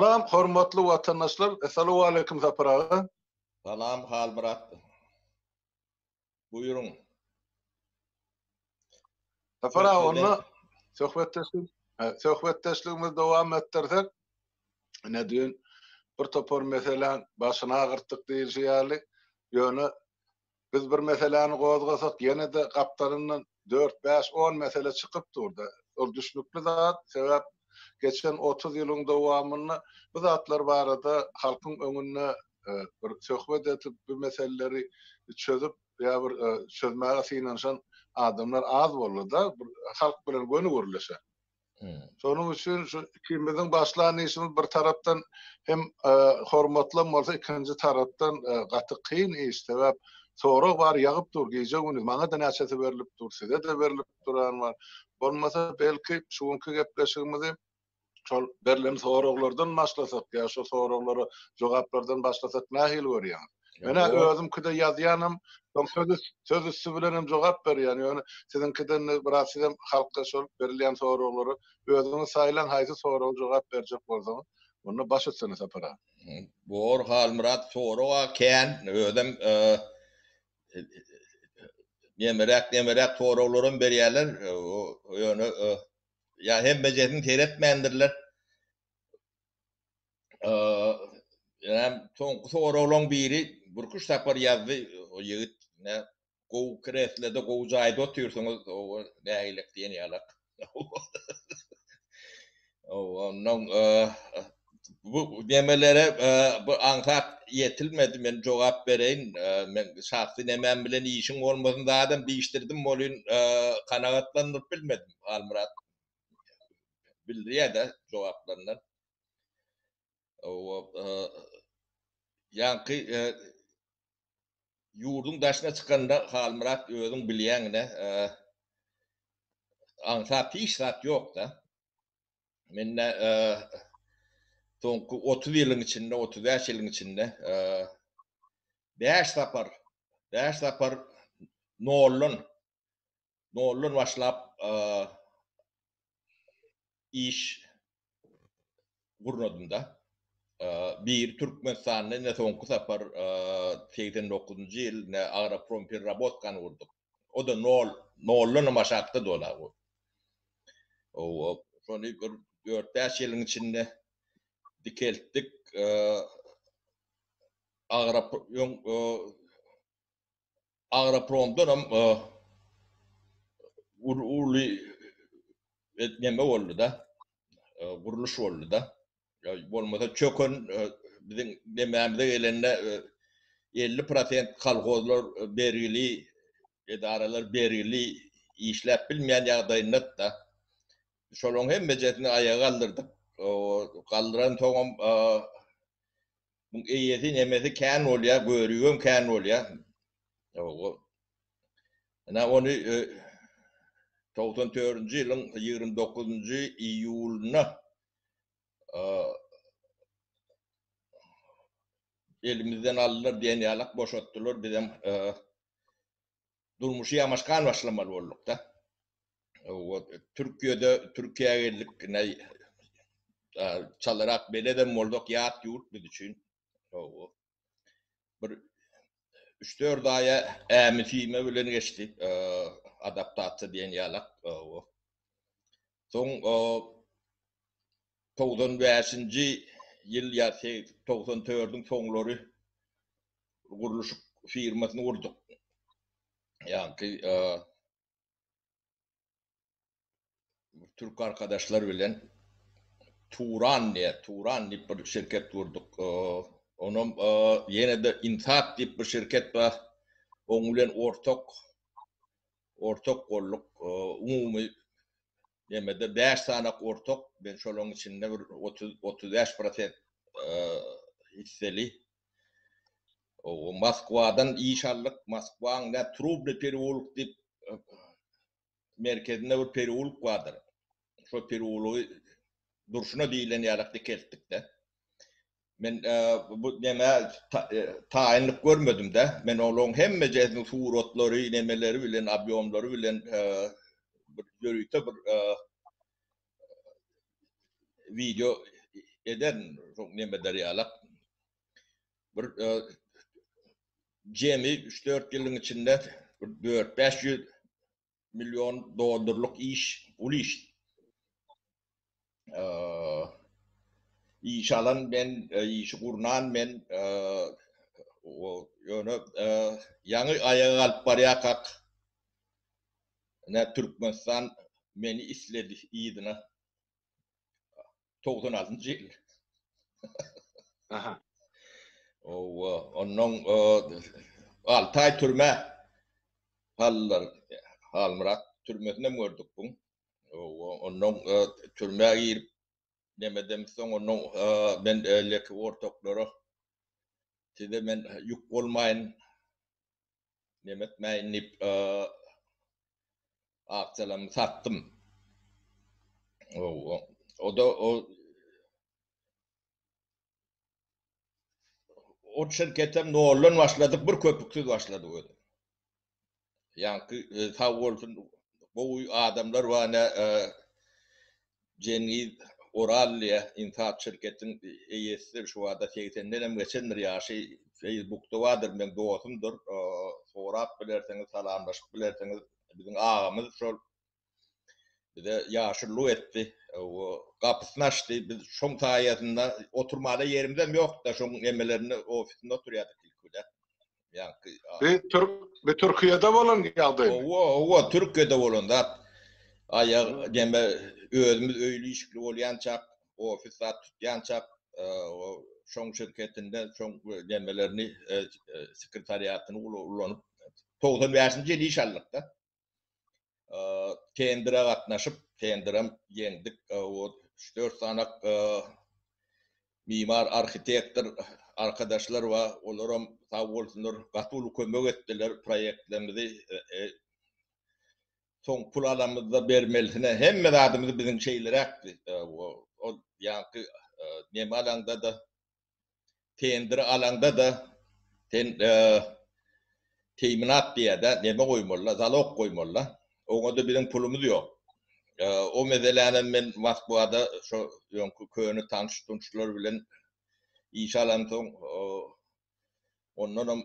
Salam hormatly watandaşlar Essalawaleýkum Sapar aga. Salam Halmyrat. Buýruň. Sapar aga onda söhbetdeşlik söhbetdeşligimizi dowam etdirsek. Ine düýn bir topar meseläň başyny agyrtdyk diýilşi ýaly. Ýöne Biz bir meseläni gozgasak, ýene-de gapdalyndan dört, bäş, on mesele çykyp dur-da. Ol düşnükli zat, sebäp geçen otuz ýylyň dowamynda bu zatlar barada halkyň öňünde bir söhbet edip, bu meseleleri çözüp ýa bir çözmäge synanyşan adamlar az boldy-da, bir halk bilen göni gürleşen. Şonuň üçin şu ikimiziň başlan işimiz bir tarapdan hem e, hormatlan bolsa, ikinji tarapdan e, gaty kyn iş. Sebäp sorag bar ýagyp dur gije güni. Maňa da näçesi berilip dur, size de berilip duran bar. Bolmasa belki şu günki gepleşigimizi şol berlen soraglardan başlasak ýa şu soraglara jogaplardan başlasak nähili görýäňiz? Menä özümkide ýazýanym, soň söz söz üsti bilen hem jogap berýän. Ýöne siziňkiden biraz sizem halka şol berilýän soraglary özüňiz saýlaň haýsy soraga jogap berjek bolsaňyz, onda baş üstüne Sapar aga. Bor Halmyrat soraga kän özem nemeräk-nemeräk soraglar hem berýärler. Ýöne ýa hemmejesini seretmändirler. Eee, soňky soraglaryň biri Burkuş Sapar ýazdy, o ýigit ne gowy kreslede, gowy jaýda otyrsyňyz, oba nägilik diýen ýalak. Ondan bu demelere bu aňsat ýetilmedi, men jogap bereýin. Men şahsy nemäm bilen işiň bolmasyn zadam diýişdirdim welin, kanagatlandyryp bilmedim. Halmyrat bildirýär-de jogaplaryndan. Ýaňky ýurduň daşyna çykanda Halmyrat özüň bilýäňine aňsat hiç zat ýokda. Mende soňky otuz ýylyň içinde, otuz bäş ýylyň içinde bäş sapar, bäş sapar noldan noldan başlap iş gurnadymda bir Türkmenistanda ine soňky sapar 89-njy ýyl ne Agroprom perrabotkany gurduk. O da nol, noldan başatdy dola bu. O şony bir 4-5 ýylyň içinde dikeltdik. Agrop Agropromdan hem uly neme boldy-da, gurluş boldy-da. Bolmasa çöken biziň nemämize gelende elli prosent kolhozlar bergili, edaralar bergili işläp bilmeýän ýagdaýynda-da. Şolaryň hemmejesini aýaga galdyrdyk. Galdyransoňam Muň eýesi nemesi kän bolýar, görügem kän bolýar. Ýoga. Ina ony 94-nji ýylyň 29-njy iýulynda elimizden aldylar, diýen ýalak boşatdylar, bizem durmuşy ýamaşgan başlamaly bolduk-da. Türkiýede, Türkiýä geldik, näý, çalarak beledem bolduk, ýat ýurt biz üçin. Bir üç-dört aýa ämi-süýme bilen geçdi, adaptasiýa diýen ýalak. Soň togsan bäşinji ýyl ýa togsan dördüň soňlary gurluşyk firmasyny gurduk. Ýaňky türk arkadaşlar bilen Turan diýýä, Turan diýip bir şirket gurduk. Onam ýene-de Insat diýip bir şirket bar. Oň bilen ortak Ortak golluk umumy nemede bäş sany ortak, men şolaryň içinde bir otuz, otuz bäş prosent hisseli. Moskwadan iş aldyk, Moskwaň nä Trubny periwolk diýip merkezinde bir periwolk bardyr. şo perulygy durşuna diýilen ýalak dikeltdik-de. Men bu näme taýynlyk görmedim-de. Men olaryň hemmejesiniň suratlary, nemeleri bilen, obýomlary bilen bir ýörite bir wideo eden şo nemeler ýalak. Bir jemi üç-dört ýylyň içinde bir dört-bäş ýüz million dollarlyk iş, uly iş. Iş alan men, işi gurnan men, ýöne ýaňy aýaga galyp barýarkak, türkmenistan meni isledi yzyna. Togdan altynjy ýyl. Aha. Owa, ondan alty aý türme. Hallar, Halmyrat türmesinde gördük bu. Owa, ondan türme girip, nemeden soň ondan men öýleki ortaklara size men ýük bolmaýyn. Neme etmäýin diýip, akçalamy satdym. Ow, o-da o O şirketem noldan başladyk, bir köpüksiz başladyk özem. Ýaňky sag bolsun, gowy adamlar bar, ine, Jengiz Oral diýýä, Insat şirketiň eýesidir, şu bada segsenden hem geçendir ýaşy, feýsbukda bardyr, meň dosumdyr, sorap bilersiňiz, salamlaşyp bilersiňiz, biziň agamyz şol, bize ýaşulylyk etdi, gapysyny açdy, biz şoň saýasynda, oturmala ýerimizem ýokdy-da, şoň nemelerinde, ofisinde oturýardyk ilki bilen, Ýaňky Bi türk bi Türkiýede bolan ýagdaý. Owa, owa, Türkiýede bolan zat. Aýag deme özümiz öýli işikli bolýançak, ofis zat tutýançak, şoň şirketinde şoň demelerini sekretariatyny ulanyp 95-nji ýyl iş aldyk-da. tendere gatnaşyp, tenderem ýeňdik. O üç-dört sanak mimar, arhitektor arkadaşlar bar. Olaram sag bolsunlar, gaty uly kömek etdiler proýektlerimizi. Soň pul alamyzda bermelisine hemme zadymyzy biziň şeýleräkdi. Ýaňky Nemalaňda-da Tendri alaňda-da sen teýminat diýýär-de, neme goýmaly-da, zalog goýmaly-da. Oňa-da biziň pulumyz ýok. O meselänem men Moskwada şo öňki köne tanyş-tunşlar bilen iş alansoň, ondanam.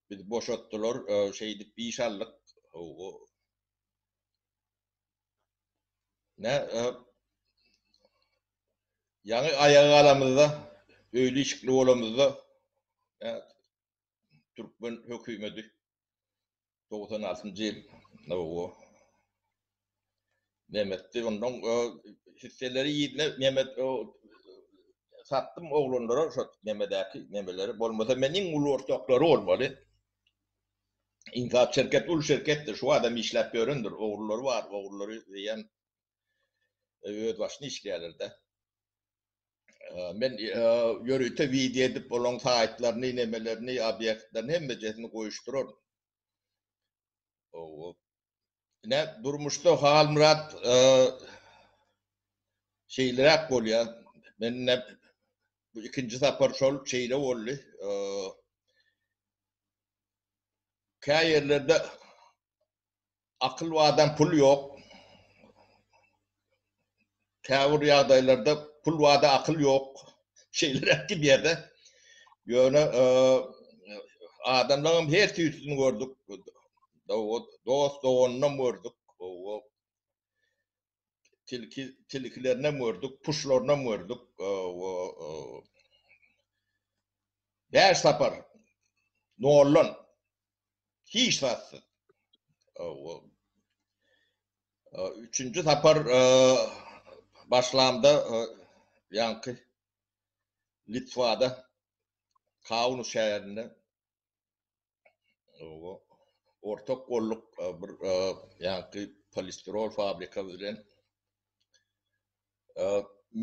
Bizi boşatdylar, şeýdip iş aldyk. Hawa. Nä? Ýaňy aýaga galamyzda, öýli-işikli bolamyzda, türkmen hökümedi, togsan altynjy ýyl, hawa. Nemetdi ondan o hisseleri ýerine nemet o satdym oglanlara şo nemedäki nemeleri bolmasa men iň uly ortaklary bolmaly. Inkap şirket uly şirketdir şu adam işläp ýörendir ogrulary bar ogrulary diýen öz başyny işleýärlerde. Men ýörite wideo edip olaň saýtlaryny nemelerini obýektlerini hemmejesini goýuşdyraryn. Ine, durmuşda Halmyrat e, şeýleräk bolýar. Men bu ikinji sapar şol şeýle boldy. E, Kä ýerlerde akyl wadan pul ýok. Käbir ýagdaýlarda pul bada akyl ýok şeýleräk gidýärde. Ýöne adamlaňam her tüýsüni gördük. Dost doganynam gördük. Tilki tilkilerinam gördük, puşlarynam gördük. Bäş sapar nollan Hiç zatsyz. Üçünji sapar başlamda ýaňky Litwada Kaunu şäherinde ortak golluk bir ýaňky polistirol fabrika bilen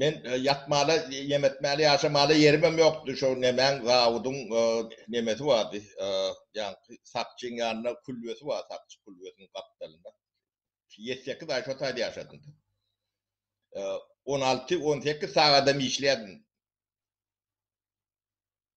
Men ýatmaly, ýem etmäli, ýaşamaly ýerimem ýokdy. Şo nemäň zawudyň nemesi bardy. Ýaňky sakçyň ýanynda külbesi bar, sakçy külbesiniň gapdalynda. Ýedi sekiz aý şo taýda ýaşadym. On alty, on sekiz sagadam işledim.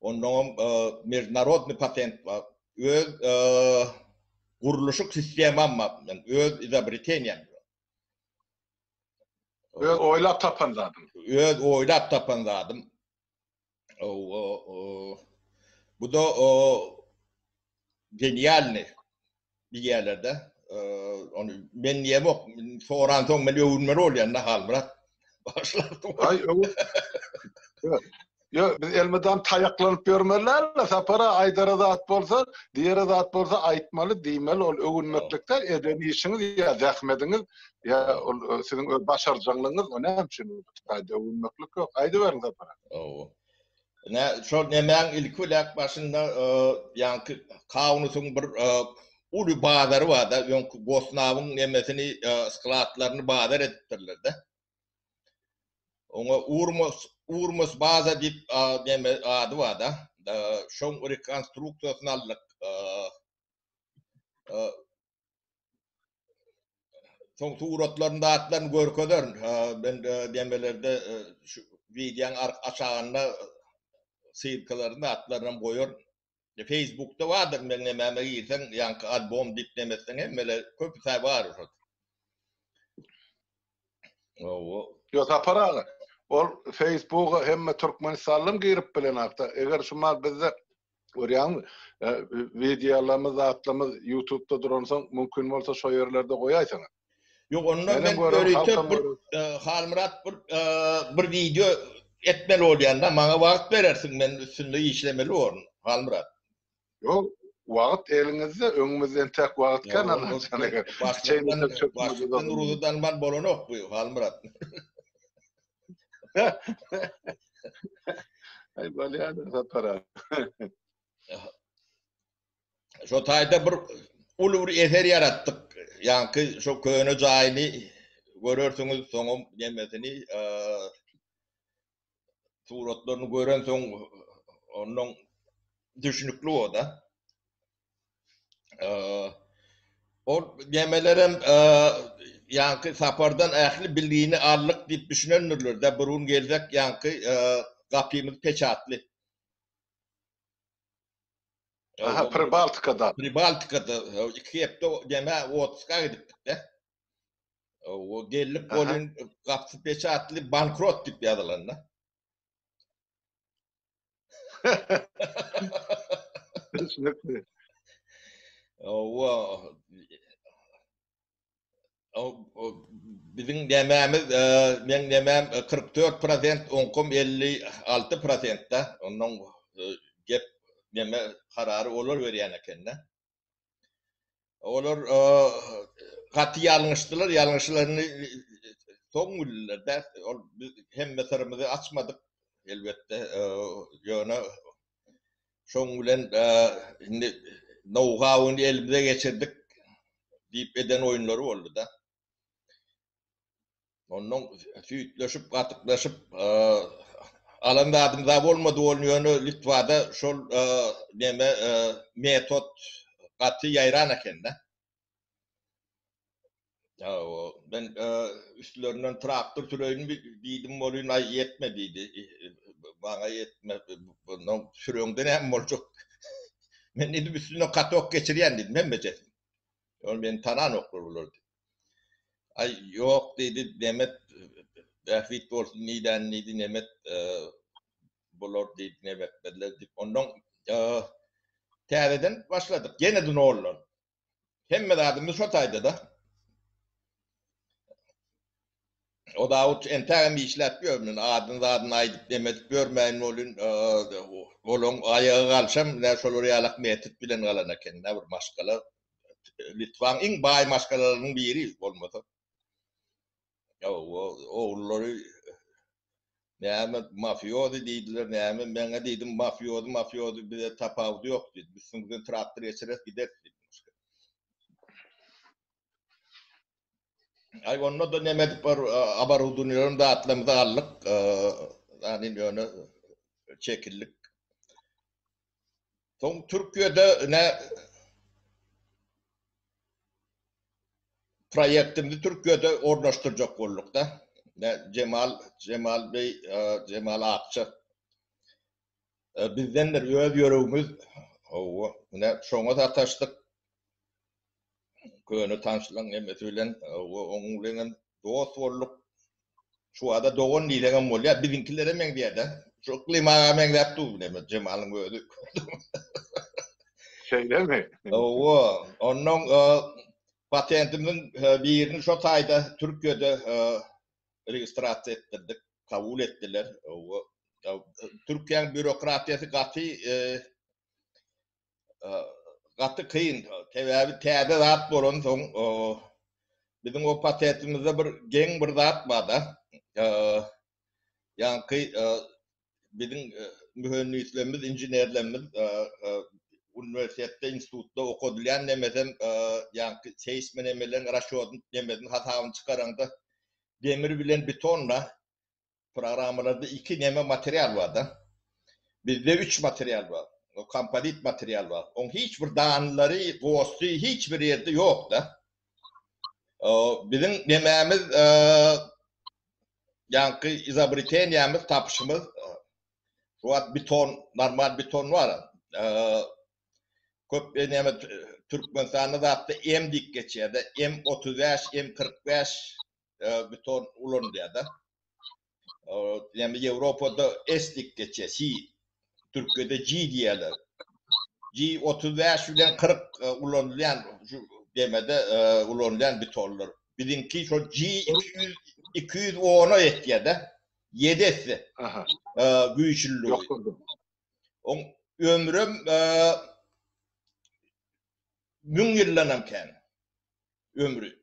Onnoňam mejnarodny patent bar. Öz gurluşyk sistemam bar. Men öz izobreteniýam. Öz oýlap tapan zadym. Öz oýlap tapan zadym. Bu da genialny. diýýärler-de. Ony men diýemok, soran soň men öwünmeli bolýan da Halmyrat. Başlapdy. Aý, öwün. Ýo, biz elmydam taýaklanyp ýörmeli-le, Sapara aýdara zat bolsa, diýere zat bolsa aýtmaly, diýmeli, ol öwünmeklikde eden işiňiz ýa zähmediňiz, ýa ol siziň öz başarjaňlygyňyz, o näme üçin? Öwünmeklik ýok. Aýdyberiň, Sapara. Hawa. Nä, şol nemäň ilki biläk başynda, ýaňky Kaunusyň bir uly bazary bar-da, öňki Gosnawyň nemesini, skladlaryny bazar edipdirler-de. Oňa Urmos, Urmos baza diýip, neme, ady bar-da. Şoň rekonstruksiýasyny aldyk. Soň suratlarynda atlaryny görkezerin. Ben demelerde e, şu wideoň aşagynda sylkalaryny atlaryny hem goýaryn. E, Facebookda bardyr, men nämäme girseň, ýaňky albom diýip demesden hemmele köp säwar. Owo. Yo Sapar aga. Ol Facebooka hemme Türkmenistanlym girip bilen akda. Eger şu mal bizde görýäňmi? Wideolarymyz, zatlarymyz Youtubeda duransoň mümkin bolsa şo ýerlerde goýaýsaňa. Ýok onda men ýörite bir Halmyrat bir bir wideo etmeli bolýanda maňa wagt berersiň men üstünde işlemeli borun Halmyrat. Yo, wagt eliňizde, öňümizde entäk wagt kän Allajan eger. Başlykdan ruzy dalman bolanok bu Halmyrat. Ay bolýar sapara. Şo taýda bir uly bir eser ýaratdyk. Ýaňky şo köne jaýyny görersiňiz, soňam nemesini, suratlaryny görensoň ondan düşünikli o-da. Ol gemelerem ýaňky sapardan ähli bilgini aldyk diýip düşünendirler-de, bir gün geljek ýaňky gapymyz peçatly. Aha, Pribaltikada. Pribaltikada iki hepde geme Otska gidipdik-de. O gelip bolun kapsy peçatly bankrot dip yazylan da. Düşünükli. O Bizim dememiz, men demem 44 prosent, onkum 56 prosent da, ondan gep neme kararı olar veriyen eken da. Olar gaty ýalňyşdylar, ýalňyşlaryny soň bildiler-dä. Ol biz hemme syrymyzy açmadyk, elbetde, ýöne şoň bilen indi nou-hauny elimize geçirdik diýip eden oýunlary boldy-da. Ondan süýtleşip, gatyklaşyp, alan zadym za bolmady ol ýöne Litwada şol neme metod gaty ýaýran ekende. Ýa o men üstlerinden traktor süreýin diýdim bolýun, aý ýetme diýdi. Maňa ýetme, bundan süreňde näme boljak? Men edip üstünden katok geçirýän diýdim, hemme çeşit. Ol meni tananoklar bular diýip. Aý, ýok diýdi Nemet, bähbit bolsun nidäni diýdi Nemet, bular diýdi Nemetmezler diýip. Ondan täzeden başladyk. Ýene-de noldan. Hemme zadymyz şo taýda-da. O Dawut entägem işläp ýörmün, adyny-zadyny aýdyp neme edip ýörmäýin welin, olaň aýagy galşam, nä şolar ýalak metjit bilen galan eken, nä bir maşgala, Litwaň iň baý maşgalalarynyň biri bolmasa. Hawa, ogullary näme mafiozi diýdiler, näme, men-ä diýdim, mafiozi, mafiozi, bize tapawudy ýok diýdim, üstüňizden traktor geçireris gideris diýdim. Aý onda da neme edip bar abarudunýalarym zatlarymyzy aldyk. Ýani indi ýöne çekildik. Soň Türkiýede ne proýektimizi Türkiýede ornaşdyrjak bolduk-da. Ne Jemal Jemal beý Jemal Akça Bizden bir öz ýüregimiz Howwa, ine, şoňa sataşdyk. Köne tanşlaň hemmesi bilen, howwa, oňuň bilen hem dost bolduk. Şu bada dogan diýseňem bolýar. Biziňkilere meňzeýär-dä. Şu Yklym aga meňzäp dur bile, men Jemalyň özi. Şeýlemi? Howwa, onnoň patentimiziň birini şo taýda Türkiýede registrasiýa etdirdik, kabul etdiler. Türkiýäniň býurokratiýasy gaty gaty kyn, sebäbi täze zat bolansoň biziň o patentimizde bir geň bir zat bar-da, ýaňky biziň mühendislerimiz, inženerlerimiz uniwersitetde, institutda okadylýan nemeden ýa-da seýsmi nemeden, raşýodyn nemeden hasabyny çykaranda demir bilen betonda programmalarda iki neme material bar-da. Bizde üç material bar. O kompozit material bar. Oň hiç bir danlary, gosdy hiç bir ýerde ýok-da. Biziň nemämiz ýaňky izobreteniýämiz, tapyşymyz şu wagt beton, normal beton bar. Köp näme Türkmenistanda zatda M diýip geçýär-de, M35, M45 beton ulanylýar-da. Ýöne Ýewropada S diýip geçýär, si Türkiýede G diýýärler. G otuz bäş bilen kyrk e, ulanylýan şu gemide e, ulanylýan bitonlar. Biziňki şol G iki ýüz iki ýüz ona ýetýär-de. Ýedi esse Aha. e, güýçlüligi. Ýokurdum. Oň ömrüm e, müň ýyldanam kän. Ömri.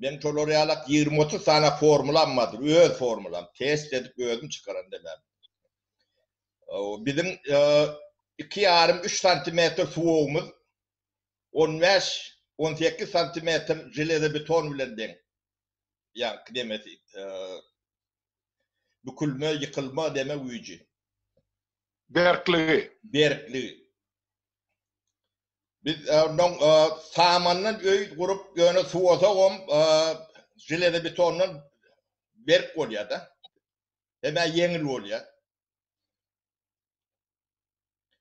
Meň şolar ýalak ýigrimi-otuz sany formulam bardyr, öz formulam, test edip özüm çykaran demän. Biziň iki ýarym, üç santimetr suwagymyz on bäş, on sekiz santimetr železobeton bilen deň. Ýaňky nemesi, bükülme, ýykylma deme güýji. Berkligi. Berkligi. Biz ondan samandan öý gurup, ýöne suwasagam železobetondan berk bolýar-da. Hem-ä ýeňil bolýar.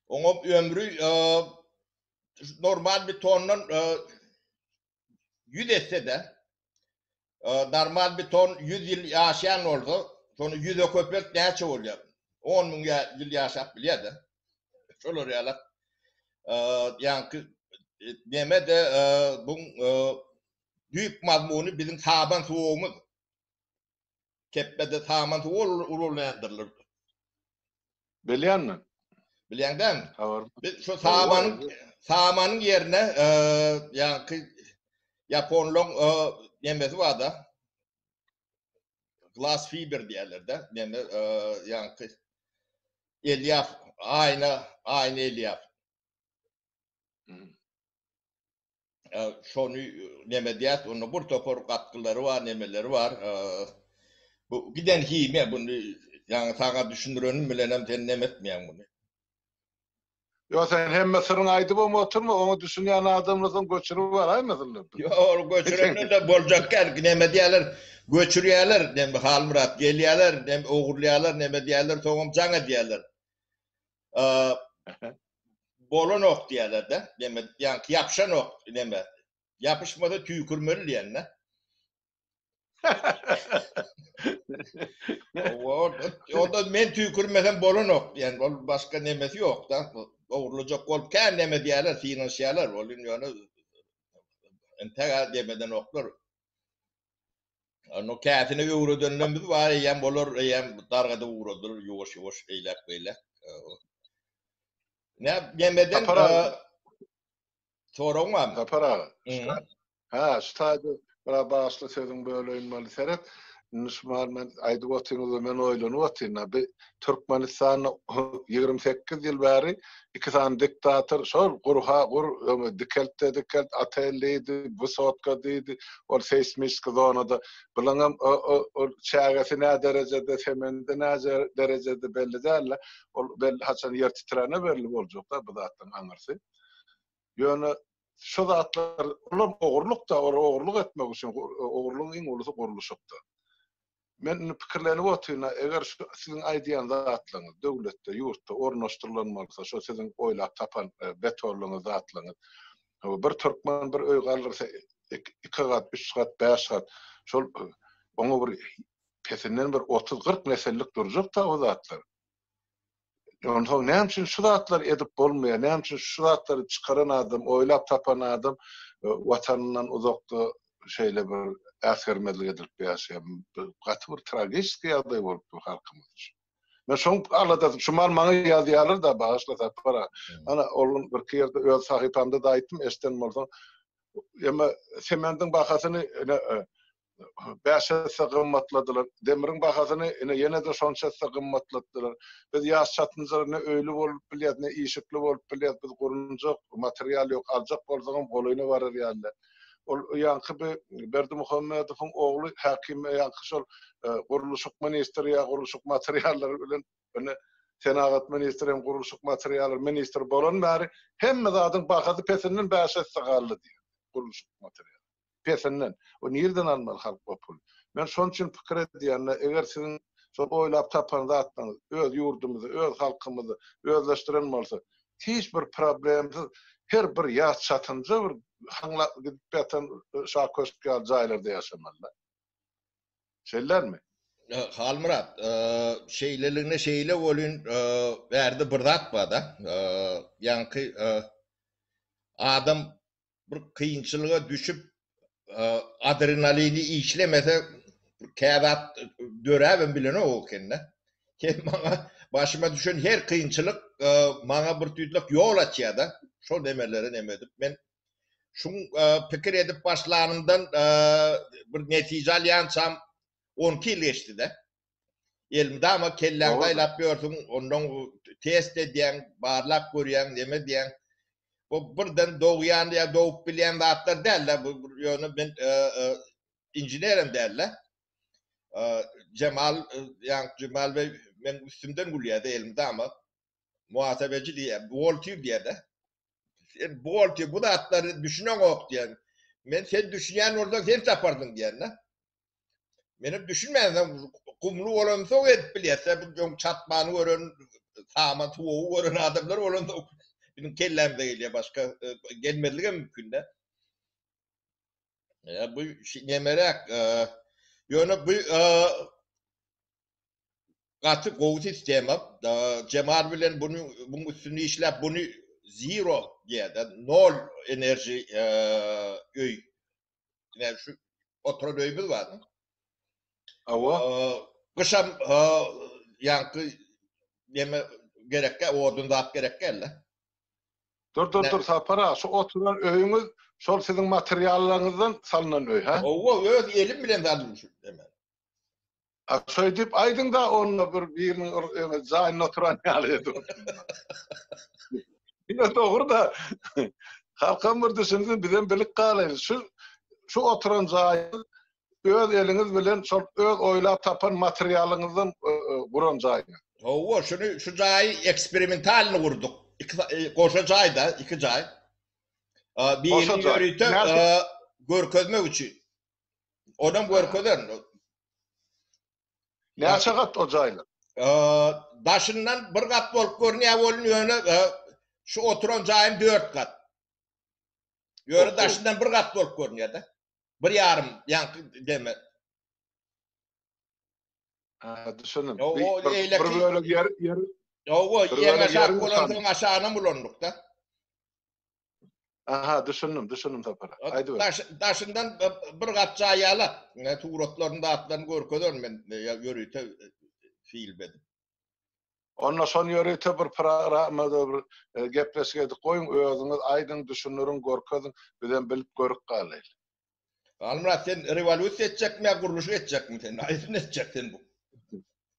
Oňa ömri normal betondan ýüz etse-de, normal beton ýüz ýyl ýaşaýan bolsa, şony ýüze köpelt näçe bolýar? On müň ýyl ýaşap bilýär-de. Şolar ýaly ýaňky neme-de bu düýp mazmuny biziň saban suwagymyz. Kepbede saman suw ululändirilirdi. Bilýän men. Bilýäň dämi? Biz şu samanyň samanyň ýerine ýaňky ýaponlaryň nemesi bar-da. Glas fiber diýerler-de. Neme ýaňky elýaf, aýna, aýna elýaf. şony neme diýýäs, onda bir topar gatgylary bar, nemeleri bar. Bu giden himiýa bunu ýaňy saňa düşündirenim bilenem sen neme etmeýäň muny. Ýok, sen hemme syryňy aýdybam oturma, oňa düşünýän adamlar soň göçürip baraýmasynlar. Ýok, ol göçürenler-de boljak däl, neme diýýärler, göçürýärler, Halmyrat, gelýärler, ogurlaýarlar, neme diýýärler, soňam jaň edýärler. bolanok diýerler-de, näme, ýaňky ýapyşanok, näme, ýapyşmasa tüýkürmeli diýende. Onda men tüýkürmesem bolanok diýen, ol başga nemesi ýok-da, ogurlajak bolup kän näme diýerler, synanyşýarlar, ol indi ýöne entägä demeden oklar. Onu käsini öwredenlerimiz bar eýýäm, olar eýýäm dargadyp ugradylar ýuwaş-ýuwaş eýläk-beýläk. Nä ýemeden soragyň barmy? Sapar aga. Ha, şu taýda bir başly sözüň böleýin maly seret. Indi şu maly men aýdyp otynyňda men oýlanyp otyryn. Türkmenistanda ýigrimi sekiz ýyl bäri iki sany diktator şol gurha gur, öňe dikeltde dikelt, otel diýdi, wysotka diýdi, ol seýsmiski zonada. Bunuňam ol çägesi nä derejede, semendi nä derejede belli däl-le. Ol belli haçan ýer titrände belli boljak-da bu zatlaryň aňyrsy. Ýöne şu zatlar, olar ogurlyk-da, olar ogurlyk etmek üçin, ogurlygyň iň ulusy gurluşykdyr. Men indi pikirlenip otyryn-a, eger şu siziň aýdýan zatlaryňyz döwletde, ýurtda ornaşdyrylan bolsa, şo siziň oýlap tapan betonlygyňyz, zatlaryňyz, hawa, bir türkmen bir öý galdyrsa, iki gat, üç gat, bäş gat, şol oňa bir pesinden bir otuz-kyrk nesillik durjak-da o zatlar. Onsoň näme üçin şu zatlary edip bolmaýar? Näme üçin şu zatlary çykaran adam, oýlap tapan adam watanyndan uzakda şeýle bir äsgermezlik edilip ýaşaýar? Bu gaty bir tragiskiý ýagdaý bolup dur halkymyz üçin. Men şoň aladasyny, şu mal maňa ýazýarlar-da, bagyşla Sapar aga. Ana, ol gün birki ýerde öz sahypamda-da aýtdym, eşiden bolsaň. Emma semendiň bahasyny, ine, bäş esse gymmatladylar. Demiriň bahasyny ine ýene-de şonça esse gymmatlatdylar. Biz ýaş çatynjalar ne öýli bolup bilýäs, ne işikli bolup bilýäs. Biz gurunjak material ýok. Aljak bolsaňam golaýyna barar ýaly. Ol ýaňky bi Berdimuhamedowyň ogly Häkim ýaňky şol gurluşyk ministri ýa gurluşyk materiallary bilen ine senagat ministri hem gurluşyk materiallary ministri bolan bäri hemme zadyň bahasy pesinden bäş esse galdy diýýär gurluşyk materiallary. pesinden. O nireden almaly halk o puly? Men şon üçin pikir edýände, eger siziň şol oýlap tapan zatlaryňyz öz ýurdumyzy, öz halkymyzy özleşdiren bolsa, hiç bir problemsiz her bir ýaş çatynja bir haňlak gidip ýatan Şa köşk ýaly jaýlarda ýaşamaly-da. Şeýlelermi? Halmyrat, şeýleligine şeýle welin, bärde bir zat bar-da, ýaňky adam bir kynçylyga düşüp adrenalini işlemese käzat döräbem bilenok okende. Hem maňa başyma düşen her kynçylyk maňa bir tüýtlük ýol açýada. Şol nemeleri neme edip men şuň pikir edip başlanymdan bir netije alýançam 12 ýyl geçdi-de. Elmydama kelläňi saýlap ýörsüň, ondan test edýäň, barlap görýäň, neme edýäň. Bu birden dogýan ýa dogup bilýän zatlar däl-de, bu ýöne men inženerem däl-de. Jemal, ýaňky Jemal beý meniň üstümden gülýär-de elmydama. Muhasebeçi diýýär, buhgalter diýýär-de. Sen buhgalter, bu zatlara düşüneňok diýýär. Men sen düşünýän bolsaň, sen taparsyň diýýän-de. Menem düşünmäýän, gumly bolansa edip bilýärse, bu ýoň çatmany gören, samat suwugy gören adamlar bolanda biziň kellämize gelýär, başga e, gelmezlige mümkin-de. E, bu nemeräk, e, ýöne bu e, gaty gowy sistema. E, Cemal bilen bunu, bunun üstünde işläp, bunu zero diýär, nol enerji e, öý Ine şu oturan öýümiz bar. Awa. Gyşam ýaňky neme gerekkä, odun zat gerekkä elde. Dur, dur, dur, Sapar aga, şu oturan öýüňiz şol siziň materiallaryňyzdan salnan öý, hä? Owa, öz elim bilen saldym şu hemen. A şeýdip aýdyňda onda bir biriniň öňe jaýyna oturan ýaly edip. Ýöne dogruda halkam bir düşünsin bizem bilik galaýyň şu şu oturan jaýyň öz eliňiz bilen şol öz oýlap tapan materialyňyzdan guran jaýyňyz. Hawa şuny şu jaýy eksperimentalny gurduk. Iki goşa jaýda iki jaý. Biri ýörite görkezmek üçin. Onam görkezerin. Näçe gat o jaýlar? Daşyndan bir gat bolup görünýär welin ýöne şu oturan jaýym dört gat. Ýöne daşyndan bir gat bolup görünýär-de. Bir ýarym ýaňky deme. Ha, düşündim. O eýleki bir bölek ýer ýer. Ýow, ýer aşak bolansoň aşagyna ulandyk-da. Aha, düşündim, düşündim Sapar. Aýdyber. Daş, daşyndan bir gat jaý ýalak. Ne suratlaryny, zatlaryny görkezer men ýörite film edip. Onda şony ýörite bir programmada bir gepleşik edip goýuň, özüňiz aýdyň, düşündiriň, görkeziň, bizem bilip görüp galaýyl. Galmyrat sen rewolýusiýa etjekmi ýa gurluşyk etjekmi sen? Haýsyny etjek sen bu?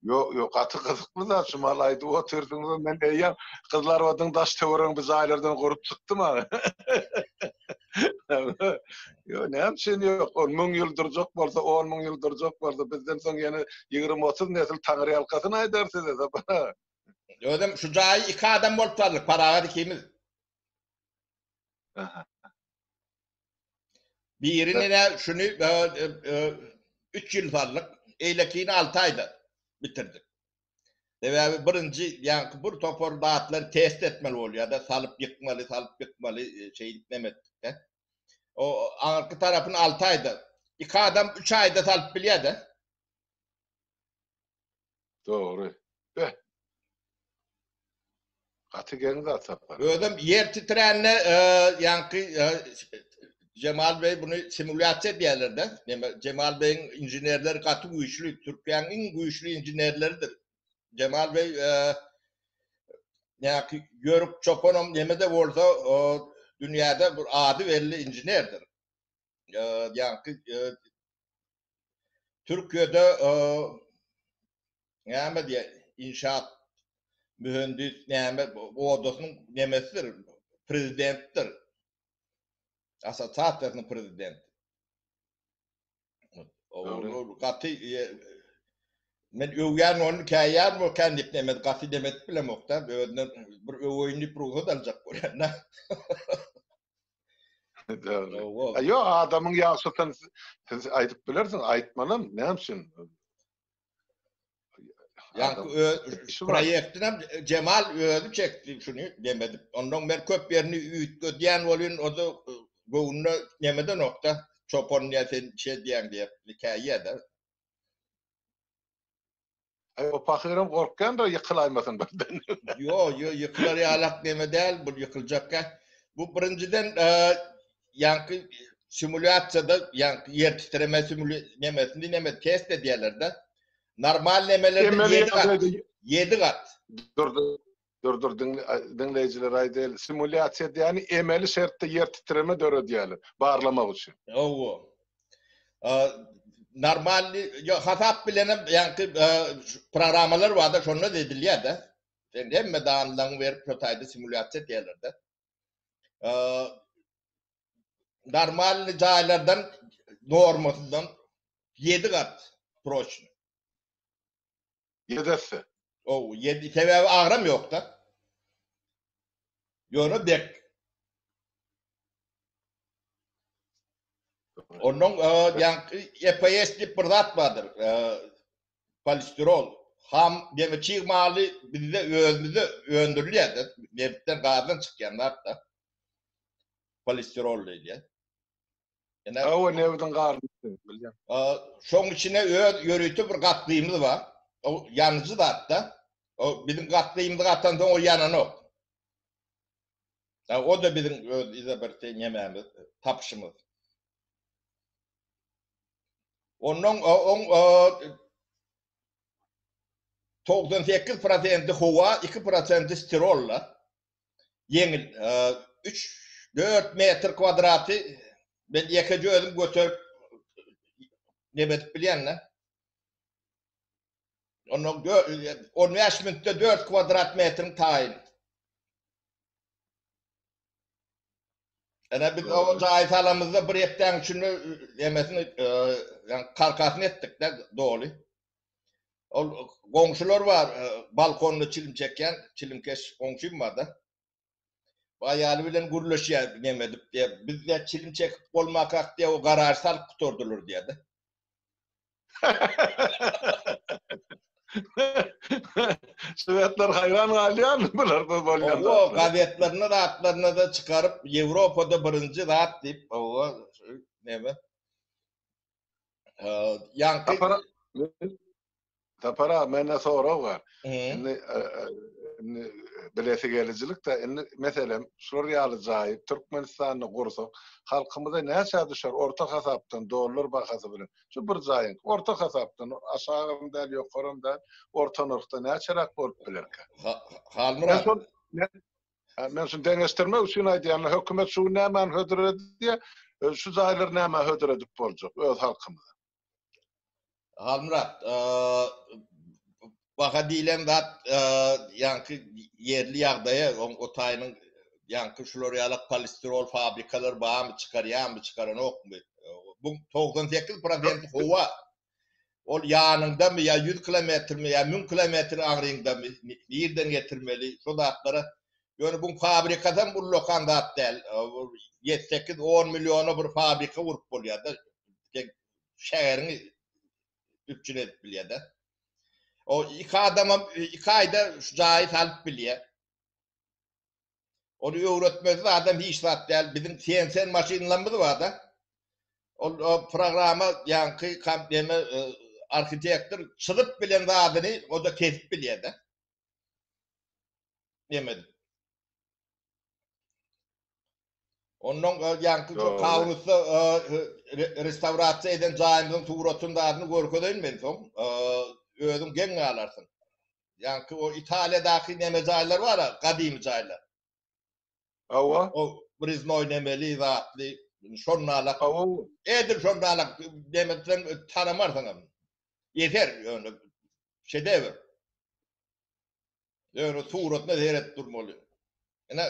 Ýok, ýok, gaty gyzykly zat şu mal aýdyp otyrdyňyz, men eýýäm Gyzlarobadyň daş töweregi bir jaýlardan gurup çykdym aga. Ýok, näme üçin ýok? Ol müň ýyl durjak bolsa, on müň ýyl durjak bolsa, bizden soň ýene ýigrimi-otuz nesil taňryýalkasyn aýdar size Sapar aga. Özem şu jaýy iki adam bolup saldyk, Parahat ikimiz. Aha. Biri nene şuny üç ýyl saldyk, eýlekini alty aýda bitirdik. Sebäbi birinji ýaňky bir topar zatlary test etmeli bolýar-da, salyp ýykmaly, salyp ýykmaly, şeýdip neme etdik-de. O aňyrky tarapyny alty aýda, iki adam üç aýda salyp bilýär-de. Dogry. Be. Gaty geň zat sapar. Özüm ýer titrände, ýaňky Jemal beý buny simulýasiýa diýerler-de. Näme, Jemal beýiň inženerleri gaty güýçli, Türkiýäniň iň güýçli inženerleridir. Jemal beý ýaňky Ýörük çopanam näme-de bolsa, dünýäde bir ady belli inženerdir. Ýaňky Türkiýede näme diýýär, inşaat mühendis näme odasynyň nemesidir, prezidentdir. Assosiasiýasynyň prezidenti. Ol gaty Men öwýän ony, käýýän bu kändik nemes gaty dem edip bilemok-da, özünden bir öweýin diýip rugsat aljak bolýan-da. Aýo adamyň ýagşysyny siz aýdyp bilersiň, aýtmanam näme üçin? Ýa-da şu proýekti hem Jemal özi çekdi şuny demedip. Ondan men köp ýerini üýtgedýän bolýan, o da göwnüne nemede nokta. Çopan diýen sen şey diýen diýip, hikaýada. Aý o pahyram gorkýandyr ýykylaýmasyn birden. Ýo, ýo, ýykylar ýalak neme däl, bu ýykyljakk gäh. Bu birinjiden ýaňky simulýasiýada ýaňky ýer titreme simuli nemesini neme test edýärler-de. Normal nemelerde ýedi gat. Ýedi gat. Dur, dur. Dur dur diňleýjilere aýdaýaly. Simulýasiýa diýýäni emeli şertde ýer titreme döredýärler barlamak üçin. Hawa. Normal ýa hasap bilenem ýaňky programmalar barda şonda edilýärde. Sen hemme danylaryňy berip şo taýda simulýasiýa edýärlerde. Normal jaýlardan normasyndan 7 gat proçny. Ýedesi. Ow, ýedi, sebäbi agram ýok-da. Ýöne dek. Onnoň ýaňky EPS diýip bir zat bardyr. Polistirol. Ham deňi çig maly bizde özümizde öndürilýär-de, nebitden, gazdan çykýan zat-da. Polistirol diýilýär. Ene, Hawa, nebdiň garyndy, bilýän. a, şoň içine öz ýörite bir gatlymyz bar. O ýanyjy zat-da. O biziň gatlymyzy gatansoň ol ýananok. A, o-da biziň öz yza bir te nemämiz, tapyşymyz. Onnoň o oň o togsan sekiz prosenti howa, iki prosenti stirol-la. ýeňil üç, dört metr kwadraty men ýekeje özüm göterip neme edip bilýän-de. Onda on bäş minutda dört kwadrat metriň taýyn. Ene biz o jaýy salamyzda bir hepdäň içinde emesini, ýa karkasyny etdik-de doly. Ol goňşular bar, balkonda çilim çekýän, çilimkeş goňşym bar-da. Bu aýaly bilen gürleşýär neme edip diýýär. Bizde çilim çekip bolmakak diýýär, o garaž salyp gutardylar diýýär-de. Şwedler haýran galýarmy bular bu bolýan zatlara? Owo, gazetlerinde zatlarynda-da çykaryp, Ýewropada birinji zat diýip, owo, neme. Ýaňky Sapar aga, mende sorag bar. Indi indi bilesi gelijilik-de, indi meselem, şular ýaly jaýy Türkmenistanda gursak, halkymyza näçä düşer orta hasapdan dollar bahasy bilen? Şu bir jaýyň, orta hasapdan, aşagam däl, ýokaram däl, orta nyrhda näçeräk bolup bilerkä? Halmyrat. Ýa men şuny deňeşdirmek üçin aýdýan, hökümet şu gün nämäni hödür edýär, şu jaýlary nämä hödür edip boljak öz halkymyza? Halmyrat, baha diýlen zat ýaňky ýerli ýagdaýa, o taýynyň ýaňky şular ýalak polistirol fabrikalary barmy, çykarýarmy, çykaranokmy? Buň togsan sekiz prosenti howa Ol ýanyňdamy ýa ýüz kilometrmi ýa müň kilometr aňryňdamy, nirden getirmeli, şo zatlara. Ýöne bu fabrikasam ullakan zat däl. Ýedi sekiz on milliona bir fabrika gurup bolýar-da. Şägeriňi üpjün edip bilýär-de. O iki adamam iki aýda şu jaýy salyp bilýär. Ony öwretmesiz adam hiç zat däl. Biziň CNC maşynlarymyz bar-da. Ol o programa ýaňky kom neme e, arhitektor çyzyp bilen zadyny o-da kesip bilýär-de. Neme edip. Ondan e, ýaňky şu Ýok, Kaunusda e, re- restaurasiýa eden jaýymyzyň suratyny zadyny görkezeýin men soň. E, Özüň geň galarsyň. Ýaňky o Italiýadaky neme jaýlar bar-a, gadymy jaýlar. Hawa. O Briznoý nemeli zatly, şonda-la. Hawa. Edil şonda-la neme etseň tanamarsyň hem. Ýeter ýöne şedewr. Ýöne suratyna seredip durmaly. Ine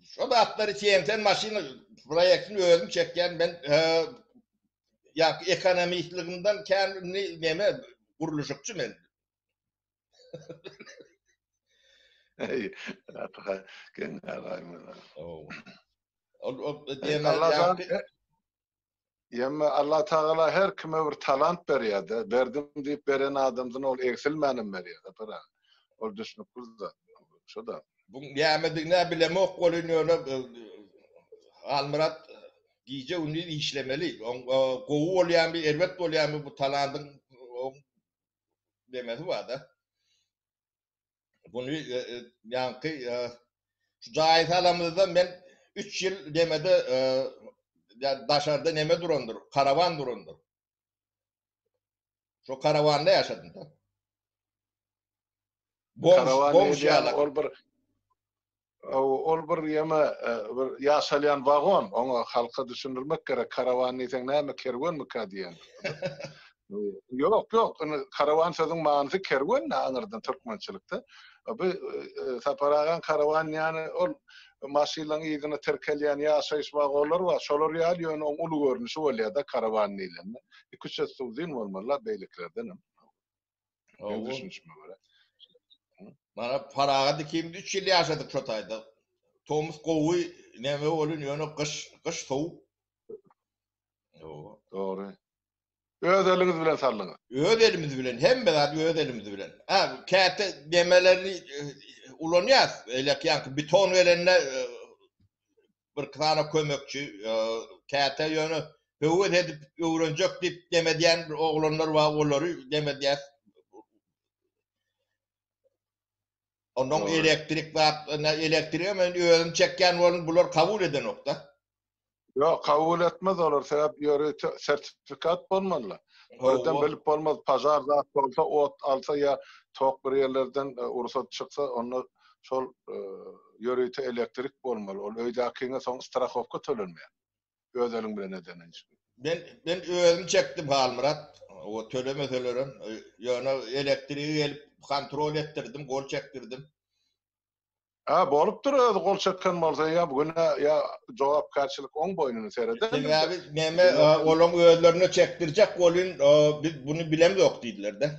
şu zatlar üçin sen maşyn proýektini özüm çekýän men ýa ekonomistligimden kän näme gurluşykçy men. Hey, Atakan, geň galaýma. Ol ol diýen ýa Ýömme Allatagala her kime bir talant berýärde, berdim diýip beren adamsyna ol egsilmänem berýärde pera. Ol düşnükli zat. Şoda. Bu nämedigine bilemok welin ýöne Halmyrat gije gündiz işlemeli. Oň gowy bolýamy, erbet bolýamy bu talandyň oň nemesi barda. Bunu e, e, ýaňky e, şu jaýy salamyzda men 3 ýyl demede daşarda neme durandyr, karawan durandyr. Şu karawanda ýaşadym da. Karawan ýaly ol bir Ol bir ýeme bir ýaşalýan wagon, oňa halka düşündirmek gerek, karawan diýseň näme kerwenmika diýen. Ýok, ýok, indi karawan sözüň manysy kerwen da aňyrdan türkmençilikde. Bu Sapar agaň karawan diýýäni ol maşynlaryň yzyna tirkelýän ýaşaýyş wagonlary bar, şolar ýaly ýöne oň uly görnüşi bolýar-da karawan diýlende. Iki-üç et uzyn bolmaly-la beýlekilerdenem. Benim Owo. düşünüşime göre. Mana Paragat ikimiz üç ýyl ýaşadyk şo taýda. Tomus gowy, näme welin, ýöne gyş, gyş sowuk. Owo. Dogry. Öz eliňiz bilen saldyňyz. Öz elimiz bilen, hemme zady öz elimiz bilen. Ha, käte demelerini e, ulanýas. Elek ýaňky beton gelende e, birki sany kömekçi, käte ýöne höwes edip öwrenjek diýip dem edýän bir oglanlar bar, olary dem edýäs. Onnoň elektrik zat, elektrigem men özüm çekýän boldum, bular kabul edenok-da. Ýok, kabul etmez olar, sebäp ýörite sertifikat bolmaly-la. Birden bilip bolmaz, pažar zat bolsa, ot alsa ýa tok bir ýerlerden rugsat çyksa, onda şol ýörite elektrik bolmaly ol öýdäkiňe soň strahowka tölenmeýär öz eliň bilen edeniň üçin. Men men özüm çekdim Halmyrat o tölemeselerem ýöne elektrigi gelip kontrol etdirdim gol çekdirdim. Hä bolupdyr özi gol çeken bolsa ýa güne ýa jogapkärçilik oň boýnuna sereder. Sebäbi näme olaň özlerine çekdirjek golyn biz buny bilemzok diýdiler-de.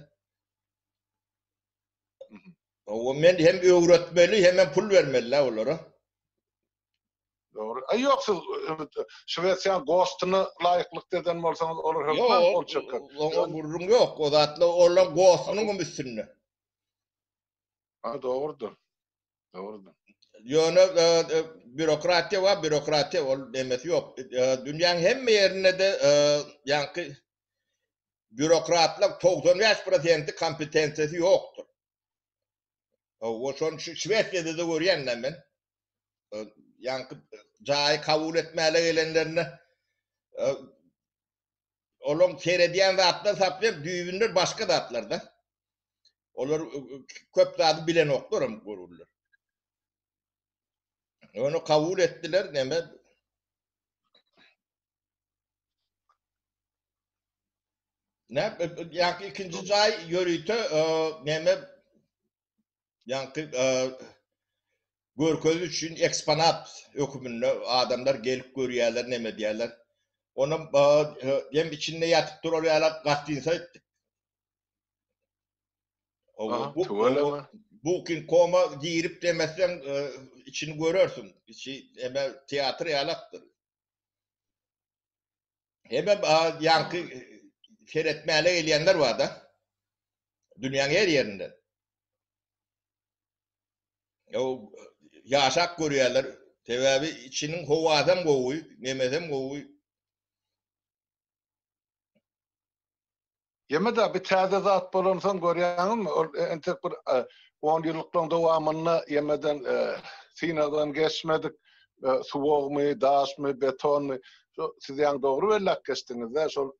O men hem öwretmeli, hem hem pul bermeli olara. Dogry. Ay yok siz Şwesiýanyň gostuny laýyklykda eden bolsaňyz olar hökman gol çeker. Oňa gürrüň ýok. O zatla olar gostunyň hem üstünde. Ha dogrudyr. Dogrudyr. Ýöne e, e, bürokratiýa bar, bürokratiýa ol emesi ýok. E, dünýäň hemme ýerinde de ýaňky Býurokratlaryň togsan bäş prosenti kompetensiýasy ýokdur. Hawa, şonuň üçin Şwesiýada-da görýän da men. Ýaňky jaýy kabul etmäle gelenlerinde olaryň seredýän zatlaryny saplaýar, düýbünde başga zatlar-da. Olar köp zady bilenoklarm görürler. Ony kabul etdiler, neme? Näp ýa ikinji jaý ýörite näme ýaňky görkezi üçin eksponat höküminde adamlar gelip görýärler näme diýerler. Onuň hem içinde ýatyp durar ýaly gastynsa etdik. Bu kin koma girip demesden içini görersiň. Içi eme teatr ýalakdyr. Hebe ýaňky seretmäle gelýänler bar-da. Dünýäň her ýerinden. Ýow, ýaşap görýärler. Sebäbi içiniň howasy hem gowy, nemesi hem gowy. Ýeme-de, bu täze zat bolansoň, görýäňizmi, ol entek bir onýyllyklaryň dowamynda ýemeden, synagdan geçmedik suwagmy, daşmy, betonmy, şo siz ýaňy dogry belläp geçdiňiz-dä, şol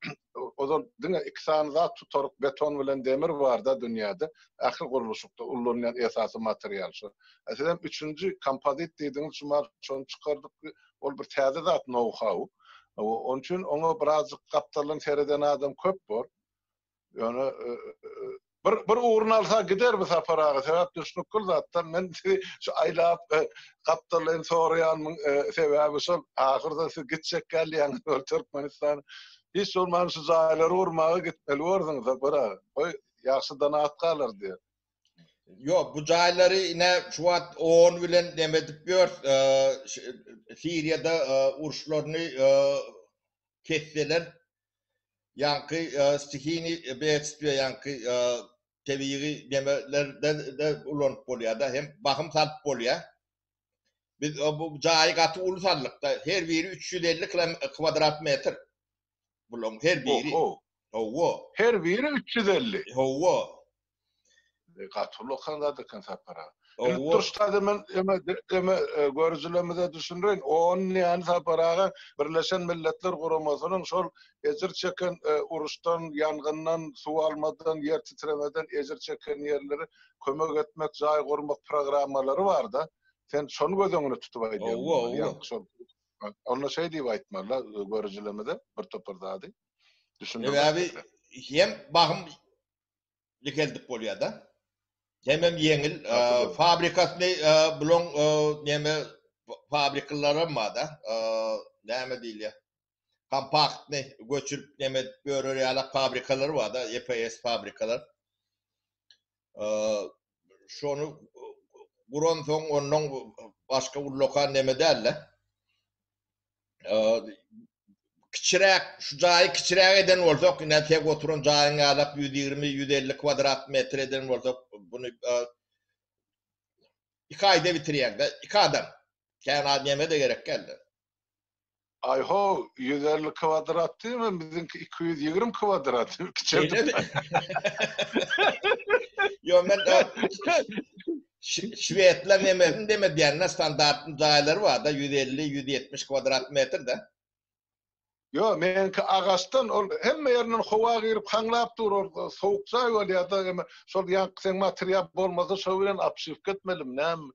ozal diňe iki sany zat tutaryk beton bilen demir bar-da dünýäde, ähli gurluşykda ullanylýan esasy material şo. Sizem üçünji kompozit diýdiňiz, şu mahaly şony çykardyk, Ol bir täze zat, nou-hau. Onuň üçin oňa birazjyk gapdaldan sereden adam köp bor. Ýöne bir bir ugruny alsa gider bu Sapar aga. Sebäp düşnükli zatdan men sizi şu aýlap gapdaldan soraýanymyň sebäbi şol. Ahyrda siz gitjek gelýäňiz ol Türkmenistana. Hiç bolmanda şu jaýlary gurmaga gitmeli borduňyz Sapar aga. Goý ýagşy donatkalar diýer. Yok bu jaýlary ine şu wagt on bilen neme edip ýör. Siriýada uruşlaryny kesseler ýaňky stihini beýtspä ýaňky tebigy nemelerde ulanyp bolýar-da hem bahym salyp bolýar. Biz bu jaýy gaty uly saldykda her biri üç ýüz elli kwadrat metr. Bularyň her biri. Oho. Hawa. Her biri üç ýüz elli. Hawa. Gaty uly okan zat eken Sapar aga. Indi Hawa. durşlady men öňe öňe görüjilerimize düşündireýin. On näni Sapar aga Birleşen Milletler Guramasynyň şol ejir çeken uruşdan, ýangyndan, suw almadan, ýer titremeden ejir çeken ýerlere kömek etmek, jaý gurmak programmalary bar-da. Sen şony göz öňünde tutup aýdýaň. Hawa, hawa. Ýa-da şol. Onda şeý diýip aýtmaly-la görüjilerimize bir topar zady düşündirip aýtmaly. Sebäbi hem bahym dikeldip bolýar-da. Hemem ýeňil fabrikasyny bulaň neme fabrikalaram bar-da näme diýilýär kompaktny göçürip neme edip ýörer ýalak fabrikalary bar-da EPS fabrikalar. Şony guran soň ondan başga ullakan neme dälde. Kiçiräk, şu jaýy kiçiräk eden bolsak, ine tek oturan jaýyň ýalak 120-150 kwadrat metr eden bolsak, bunu iki aýda bitirýäňde, iki adam. Kän adam neme de gerek geldi. Aýho, ýüz elli kwadrat diýme, biziňki iki ýüz ýigrimi kwadrat, kiçeltip. Ýok, men şwedler nemesin deme diýýän-dä, standart jaýlary bar-da, ýüz elli, ýüz ýetmiş kwadrat metr-de. Ýok, meniňki agaçdan, ol hemme ýerinden howa girip, haňlap dur, ol sowuk jaý bolýar-da, eme, şol ýaňky seň material bolmasa, şo bilen obşiwka etmelimi, näme,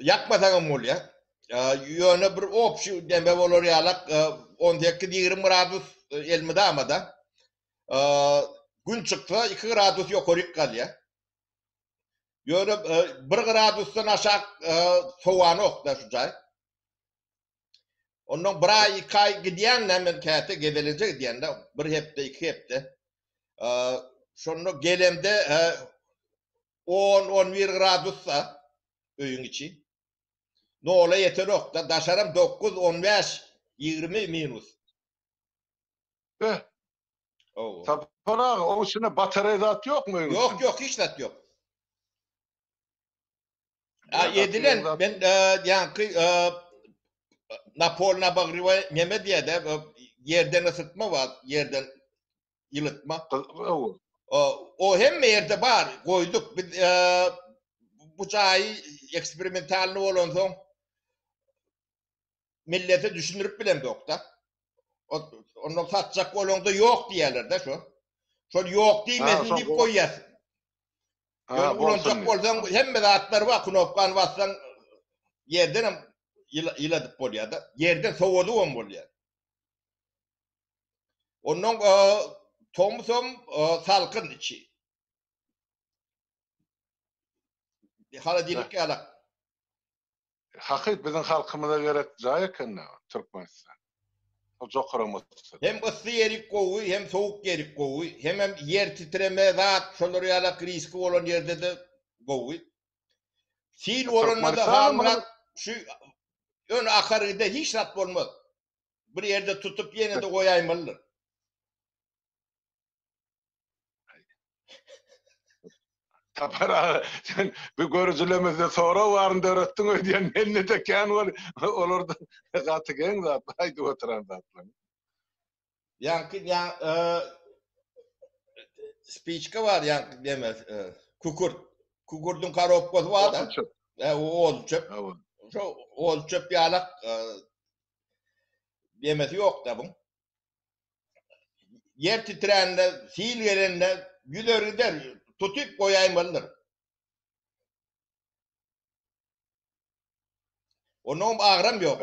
ýakmasaňam bolýar. Ýöne bir obşi deme bolar ýalak on sekiz ýigrimi gradus elmydama-da. Gün çyksa iki gradus ýokaryk galýar. Ýöne bir gradusdan aşak sowanok-da şu jaý. Ondan bir aý, iki aý gidýän-dä men käte gezelenje gidýän-dä, bir hepde, iki hepde. Şonda gelemde On-on bir gradusda öýüň içi. Nola ýetenok-da, daşaram dokuz, on bäş, ýigrimi minus. Be! Hawa. Sapar aga, oň içinde batareý zat ýokmy öýüň içinde? Ýok, ýok, hiç zat ýok. A edilen, men ýaňky napolny-obogrewaý neme diýýär-dä, ýerden yssytma bar, ýerden ýylydmak. Gyzykly. O hemme ýerde bar. Goýduk biz bu jaýy eksperimentalny bolansoň millete düşündirip bilemzok-da. Onda satjak bolanda ýok diýerler-de şo. Şol ýok diýmesin diýip goýýas. Ýöne ulanjak bolsaň hemme zatlar bar, knopkany bassaň ýerden hem ýyladyp bolýar-da. Ýerden sowadyp hem bolýar. Ondan tomsam salkyn içi. Holodilnik ýalak. Hakyt biziň halkymyza gerek jaý ekende Türkmenistan. Ol jokaram otursa. Hem yssy ýeri gowy, hem sowuk ýeri gowy. Hemem ýer titreme, zat, şolar ýalak riski bolan ýerde-de gowy. Sil bolanda-da Halmyrat şu ýöne akaride hiç zat bolmaz. bir ýerde tutup ýene-de goýaýmalydyr. Sapar aga, sen bu görüjilerimizde sorag baryny döretdiň öýdýän, mende-de kän bol, olarda gaty geň zat, aýdyp oturan zatlaň. Ýaňky ýa e, spiçka bar ýaňky deme e, kükürt. Kükürdiň korobkasy bar da. Çöp. E, o oz çöp. Hawa. Şo oz çöp ýalak e, demesi ýok da buň. Ýer titrände, sil gelende ýüzer gider, tutup goýaýmalydyr. Onuň agram ýok.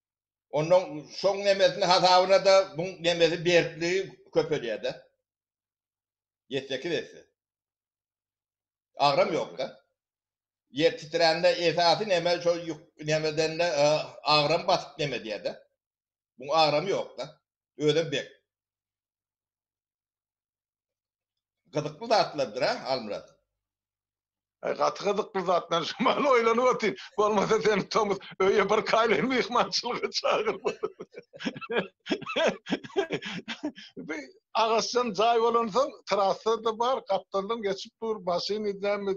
Ondan şoň nemesini hasabyna-da buň nemesi berkligi köpelýär-de. Ýedi sekiz esse. Agram ýok-da. Ýer titrände esasy neme şol ýuk nemeden-de agram basyp neme edýär-de. Buň agramy ýok-da. Özem bek. Gyzykly zatlardyr a Halmyrat. Aý gaty gyzykly zatlar şu mahaly oýlanyp otyryn. Bolmasa seni tomus öýe bir kaýlyň myhmançylyga çagyryp Bi agaçdan jaý bolansoň trassada bar gapdaldan geçip dur maşyn idämi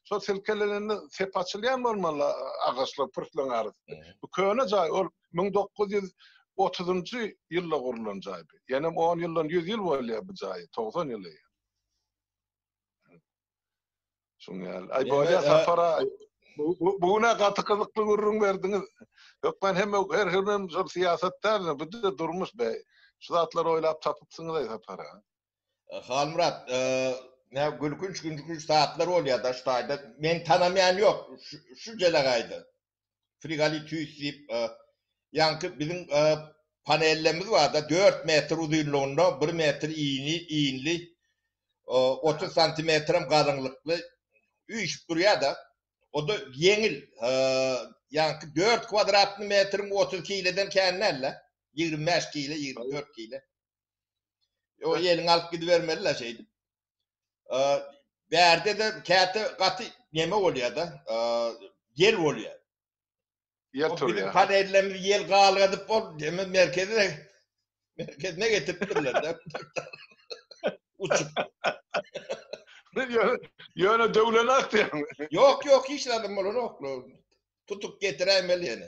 şo silkelenende sep açylýan bolmaly agaçlar pürsleň arasynda. Bu köne jaý ol Müň dokuz ýüz otuzynjy ýylda gurlan jaý bu. Ýanem on ýyldan ýüz ýyl bolýar bu jaýy, togsan ýyl eýýäm. Şuň ýaly. Aý, bolýar Sapar aga. Bu bu günä gaty gyzykly gürrüň berdiňiz. Hökman hemme her hünär şol syýasat däldir, bu-da durmuş be. Şu zatlary oýlap tapypsyňyz-aý Sapar aga. Halmyrat, nä gülkünç-gülkünç zatlar bolýar-da şu taýda. Men tanamaýan ýok şu jelegaýda. Frigalitüs diýip, ýaňky biziň panellemiz barda, dört metr uzynlygynda, bir metr inli, otuz santimetrem galyňlykly üýşüp durýar-da. O-da ýeňil, ýaňky dört kwadratny metriň otuz kileden kän däl-le, ýigrimi bäş kile, ýigrimi dört kile. Ýeliň alyp gidibermeli-le şeýdip. Bärde-de käte gaty neme bolýar-da, ýel bolýar. Ýel turýar. Biziň panellerimizi ýel galgadyp ol neme merkeze, merkezine getiripdirler-de. Uçup. Ýöne döwlenok diýýäňmi? Ýok, ýok, hiç zady bolanok. Tutup getiräýmeli ýene.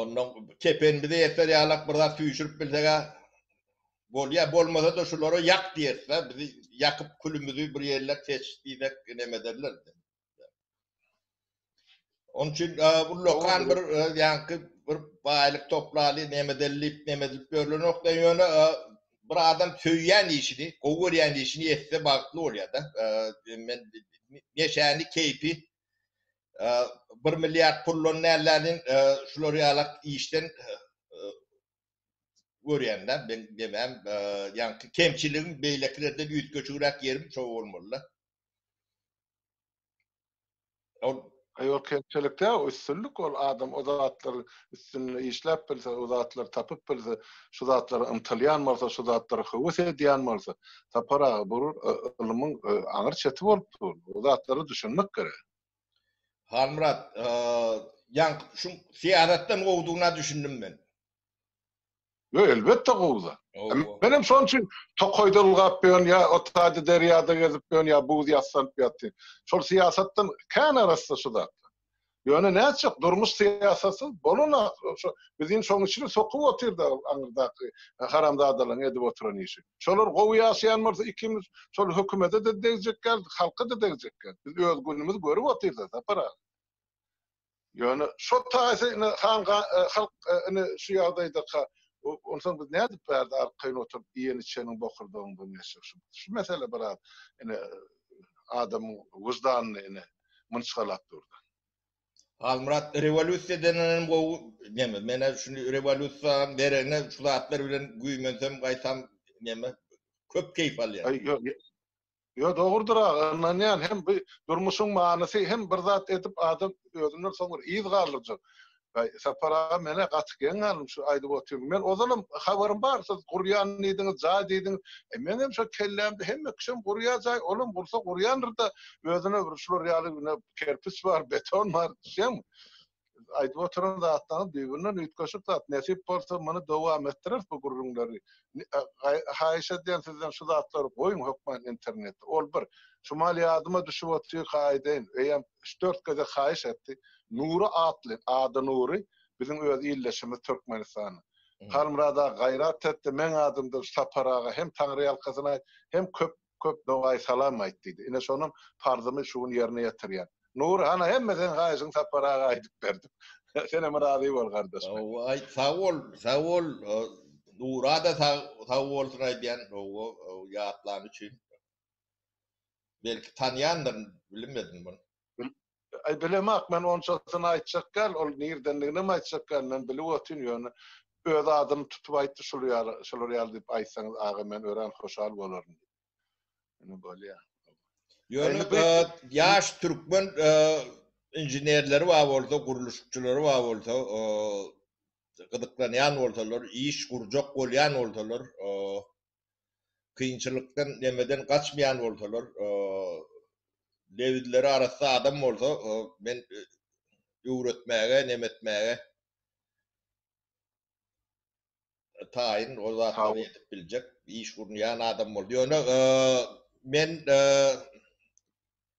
Ondan kepenimize ýeter ýalak bir zat süýşürip bilseg-ä bolýar. Bolmasa-da şulara ýak diýeris-ä, bizi ýakyp külümizi bir ýerler seç diýsek neme ederler. Onuň üçin ullakan bir ýaňky bir baýlyk toplaly neme edeli diýip neme edilip ýörlenokda ýöne bir adam söýýän işini, gowy görýän işini etse bagtly bolýar-da. Men neşäni, keýpi bir milliard pullan nälerin şular ýalak işden görýänler men demem ýaňky kemçiligim beýlekilerden üýtgeşigräk ýerim şo bolmalyda. Ol Ýok, kemçilikde üstünlik ol adam o zatlar üstünde işläp bilse, o zatlar tapyp bilse, şu zatlara ymtylýan bolsa, şu zatlara höwes edýän bolsa, tapar aga bu ylmyň aňyr çeti bolup dur. O zatlara düşünmek gerek. Halmyrat, ýa şuň syýasatdan gowudygyna düşündim men. Ýo, elbetde gowy-da. Menem şoň üçin tokaýda ylgap ýörün, ýa o taýda derýada gezip ýörün, ýa buz ýassanyp ýatyryn. Şol syýasatdan kän arassa şu zatlar. Ýöne nätjek, durmuş syýasatsyz bolan-a, bizi indi şoň içine sokup otyr-da aňyrdaky haramzadalaryň edip oturan işi. Şolar gowy ýaşaýan bolsa ikimiz şol hökümede-de degjekgäris, halka-da degjekgäris. Biz öz günümizi görüp otyrys-a, Sapar aga. Ýöne şo taýsa ine han halk ine şu ýagdaýdaka onsoň biz nädip bärde arkaýyn oturyp iýen-içeniň bokurdagyndan geçjek şu şu mesele biraz ine adamyň wyždanyny ine mynçgalap dur-da. Halmyrat rewolýusiýa denenem gowy neme menä şuny rewolýusiýaň deregine şu zatlar bilen güýmensem gaýtam neme köp keýp alýan. Aý ýok ýok ýok dogrudyr aga ynanýan hem bu durmuşyň manysy hem bir zat edip adam özünden soň bir yz galdyrjak. Aý Sapar aga menä gaty geň galdym şu aýdyp otyryň men ozalem habarym bar siz gurýan diýdiňiz jaý diýdiňiz e meňem şo kellämde hemme kişem gurýa jaý olam gursa gurýandyr da özüne bir şular ýaly ine kerpiç bar, beton bar, düşýäňmi? Aýdyp oturan zatlaryňyz bir-birinden üýtgeşik zat. Nesip bolsa, muny dowam etdireris bu gürrüňleri. Haýyş edýän sizden şu zatlary goýuň hökman internete. Ol bir. Şumal ýadyma düşüp otyrka aýdaýyn. Öýem üç-dört gezek haýyş etdi. Nury atly, ady Nury, biziň öz ildeşimiz Türkmenistanyň. Halmyrat aga gaýrat et-de, meň adymdan Sapar aga hem taňryýalkasyn aýt, hem köp köp dogaýy salam aýt diýdi. Ine şonuň parzymy şu gün ýerine ýetirýän. Nury, hana hemme seň haýyşyňy Sapar aga aýdyp berdi. Senem razy bol gardaş men. Hawa aýt, sag bol, sag bol. Nura-da sag bolsun aýdýan, hawa, ýatlany üçin. Belki tanýandyr, bilmedim muny. Bilemok, men onçasyny aýtjak däl, ol nirdendiginem aýtjak däl, men bilip otyryn, ýöne öz adyny tutup aýtdy, şul ýaly, şular ýaly diýip aýtsaňyz, aga, men örän hoşal bolaryn diýip. Ine, bolýa. Ýöne ýaş türkmen inženerleri bar bolsa, gurluşykçylary bar bolsa, gyzyklanýan bolsalar, iş gurjak bolýan bolsalar, kynçylykdan nemeden gaçmaýan bolsalar lebizleri arassa adam bolsa men öwretmäge nemetmäge taýyn o zatlary edip biljek iş gurnaýan adam boldy ýöne men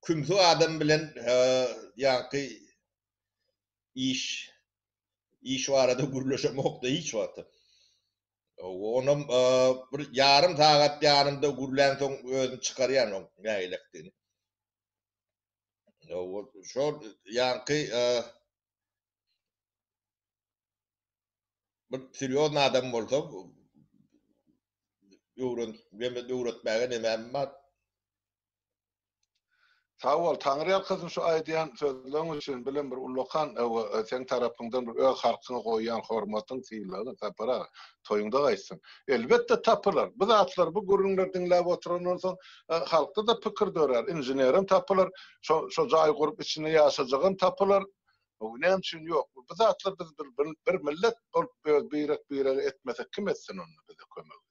kümsi adam bilen ýaňky iş iş barada gürleşemokda hiç wagtam Onam bir ýarym sagat ýanymda gürlänsoň özüm çykarýan oň nägilekdigini. Şol ýaňky bir serýozny adam bolsa öwren, öwretmäge nemäm bar. Sag bol Taňry ýalkasyn şu aýdýan sözleň üçin bilen bir ullakan seň tarapyňdan bir öz halkyňa goýýan hormatyň sylagyň Sapar aga toýuňda gaýtsyn. Elbetde tapylar bu zatlar bu gürrüňler diňläp oturandan soň halkda-da pikir dörär inženerim tapylar şo jaý gurup içinde ýaşajagam tapylar näme üçin ýok bu zatlar biz bir millet bolup öz birek birege etmesek kim etsin onda bize kömegi.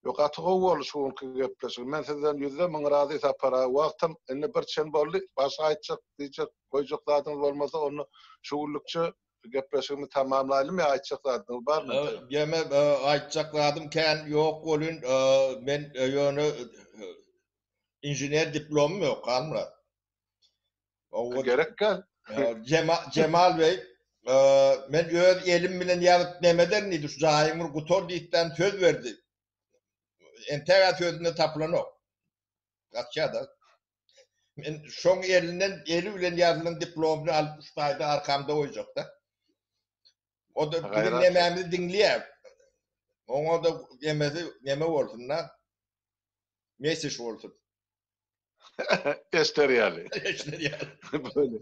Ýo gaty gowy boldy şu günki gepleşik. Men sizden ýüzde müň razy Sapar aga. Wagtam indi bir çen boldy. Başga aýtjak, diýjek, goýjak zadyňyz bolmasa onda şu günlükçe gepleşigimizi tamamlaýlym ýa aýtjak zadyňyz barmy? Ýeme aýtjak zadym kän ýok welin men ýöne inžener diplomym ýok Halmyrat. Owa gerek gel. Jemal bey men öz elim bilen ýazyp nemeden diýdi şu jaýyň bir gutar diýipden söz berdi. Entäge sözünde tapylanok. Gaçýada. Men şoň elinden eli bilen ýazylan diplomyny alyp şu taýda arkamda goýjakda. O da biziň nemämizi diňleýär. Oňa da nemesi neme bolsun da. Mesej bolsun. Ester ýaly. Ester ýaly. Böyle.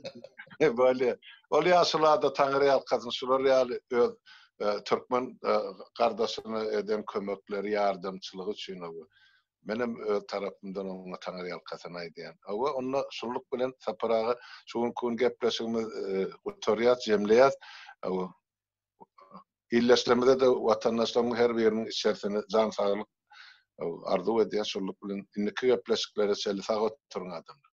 Böyle. Ol ýaşulada Taňry ýalkasyn şular ýaly öz e, türkmen e, gardaşyna eden kömekleri, ýardamçylygy üçin oba. Men hem öz tarapymdan oňa Taňry ýalkasyn aýdýan. Oba onda şulluk bilen Sapar aga şu günki gün gepleşigimiz e, gutarýar, jemleýär. Oba. Ildeşlerimize-de, watandaşlarymyň her biriniň içersine jan saglyk arzuw edýän. Şunluk bilen, indiki gepleşiklere çenli sag oturyň adamlar!